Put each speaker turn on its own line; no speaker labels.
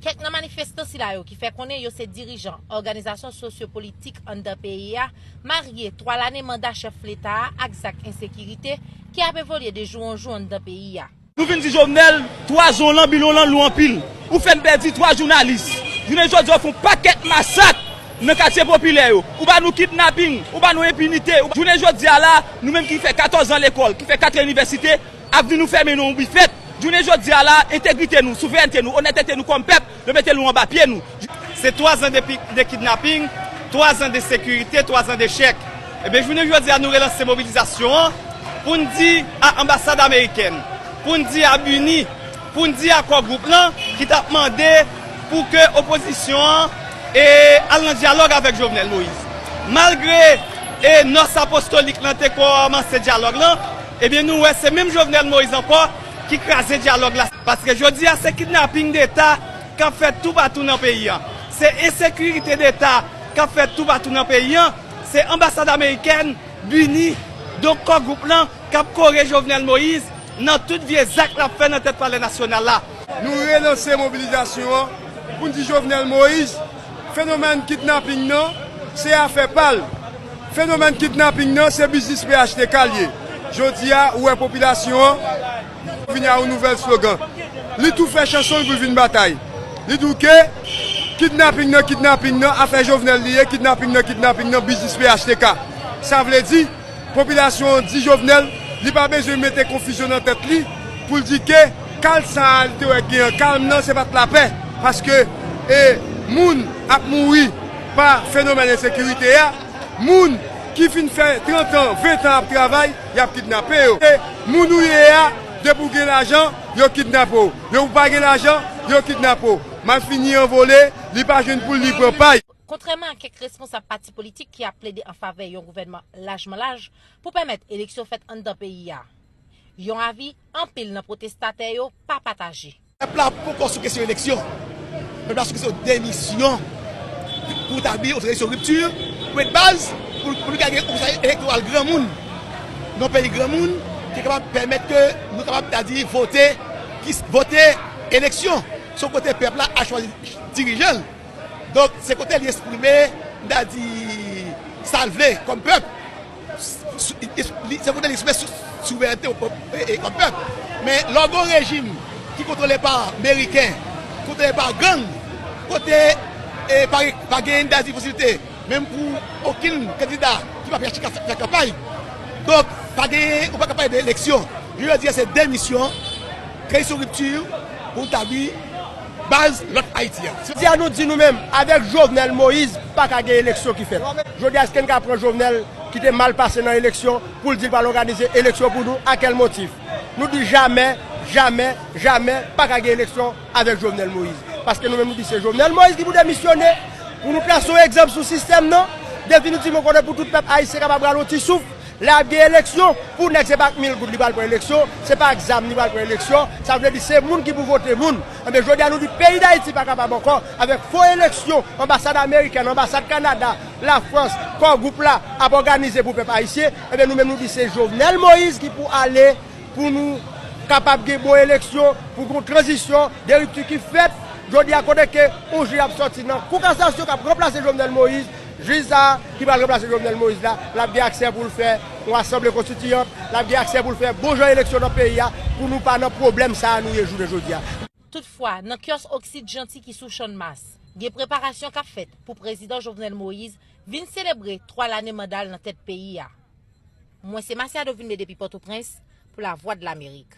Kèk nan manifestan sila yo ki fè konnen yo se dirijan òganizasyon sosyo politik anndan peyi a marye 3 lane manda chèf leta a ak zak ensekirite ki ap evolye de jou an jou anndan peyi a. Nou vin di Jovenel
3 zon lan bilon lan lou anpil. Ou fèn pèdi 3 jounalis. Jounen jodi a ou fon pakèt masak nan katye popilè yo. Ou ba nou kidnaping, ou ba nou enpinite. Jounen jodi a la, nou menm ki fè 14 zan lekòl, ki fè 4 inivèsite, ap vin nou fèmen nou yon bifèt. Jounen jodi a la, entegrite nou, souverènte nou, onètete nou kòm pèp, Yo mete nou anba pye nou. Se 3 zan
de kidnaping, 3 zan de sekirite, 3 zan de chèk. Ebyen jounen jodi a nou relanse mobilizasyon an pou n di a anbasad amerikèn, pou n di a BUNI, pou n di a Kò Gwoup lan ki t ap mande pou ke opozisyon an al nan dyalòg avèk Jovenel Moïse. Malgre nòs apostolik lan te kòmanse dyalòg lan, ebyen nou wè se menm Jovenel Moïse ankò ki kraze dyalòg la. Paske jodi a se kidnaping deta k ap fèt toupatou nan peyi an. Se ensekirite deta k ap fèt toupatou nan peyi an. Se anbasad amerikèn, bini, donk Kò Gwoup lan k ap kore Jovenel Moïse nan tout vye zak l ap fè nan tèt palè nasyonal la. Nou relanse
mobilizasyon an pou n di Jovenel Moïse fenomèn kidnaping nan se afè pa l. Fenomèn kidnaping nan se biznis phtk l ye. Jodi a, ou wè popilasyon an vini a yon nouvèl slogan. Li tou fè chanson l pou l vin batay. Li di w ke kidnaping nan, kidnaping nan, afè Jovenel li ye, kidnaping nan, kidnaping nan, biznis phtk. Sa vle di, popilasyon an di Jovenel li pa bezwen mete konfizyon nan tèt li pou l di ke kal sa a li te wè k gen an, kalm nan se pa t lapè paske moun ap mouri. Pa fenomèn ensekirite a, moun ki fin fè 30 an, 20 an ap travay, y ap kidnape yo. Se moun ou ye a, depi ou gen lajan, yo kidnape w. Depi ou pa gen lajan, yo kidnape w. Malfini an vole, li pa jwenn poul li pran pay. Kontrèman a kèk
responsab pati politik ki ap plede an favè yon gouvènman lajman laj pou pèmèt eleksyon fèt anndan peyi a, yon avi anpil nan pwotestatè yo pa pataje. Pèp la poko sou
kesyon eleksyon. Pèp la sou kesyon demisyon pou tabli yon tranzisyon ripti, pwen de baz pou nou ka gen yon konsèy elektoral granmoun, yon peyi granmoun ki kapab pèmèt ke nou kapab ta di vote, vote eleksyon. Se yon kote pèp la ap chwazi dirijan l. Donk se kote li esprime, ta di sa l vle kòm pèp. Se pou te li sou souverènte yon pèp. Men lè w gen yon rejim ki kontwole pa meriken, kontwole pa gang, kote pa gen yon dayiti posiblite menm pou okenn kandida ki pa PHTK fè kanpay. Donk pa gen, ou pa ka pale de eleksyon. Jounen jodi a se demisyon, kreye yon ripti pou w tabli. baz lòt Ayiti a. Jodi a nou di nou menm
avèk Jovenel Moise pa ka gen eleksyon ki fèt. Jodi a èske n ka pran Jovenel ki te mal pase nan eleksyon pou l di l pral òganize eleksyon pou nou? A kèl motif? Nou di jamè, jamè, jamè pa ka gen eleksyon avèk Jovenel Moise. Paske nou menm nou di se Jovenel Moise ki pou demisyone pou nou trase yon egzanp sou sistèm nan. Definitivman konnen pou tout pèp Ayisyen kapab pran yon ti souf. Lè ap gen eleksyon, pou nèg se pa ak mil goud li pral pran eleksyon, se pa ak zam li pral pran eleksyon, sa vle di se moun ki pou vote moun. Enben jodi a nou di peyi Dayiti pa kapab ankò avèk fo eleksyon anbasad amerikèn, anbasad Kanada, Lafrans, Kò Gwoup la ap òganize pou pèp ayisyen. Enben nou menm nou di se Jovenel Moïse ki pou ale pou nou kapab gen bon eleksyon, pou gon tranzisyon, de ripti ki fèt. Jodi a kote ke yon jij ap sòti nan kou kasasyon kap ranplase Jovenel Moïse, Jij sa a, ki pral ranplase Jovenel Moïse la, l ap gen aksè pou l fè yon asanble konstitiyant, l ap gen aksè pou l fè bon jan eleksyon nan peyi a pou nou pa nan pwoblèm sa a nou ye jounen jodi a. Toutfwa, nan
kyòs Oxide Jeanty ki sou Channmas, gen preparasyon k ap fèt pou Prezidan Jovenel Moïse vin selebre 3 lane manda l nan tèt peyi a. Mwen se Masiado Vilmé depi Pòtoprens pou Lavwadlamerik.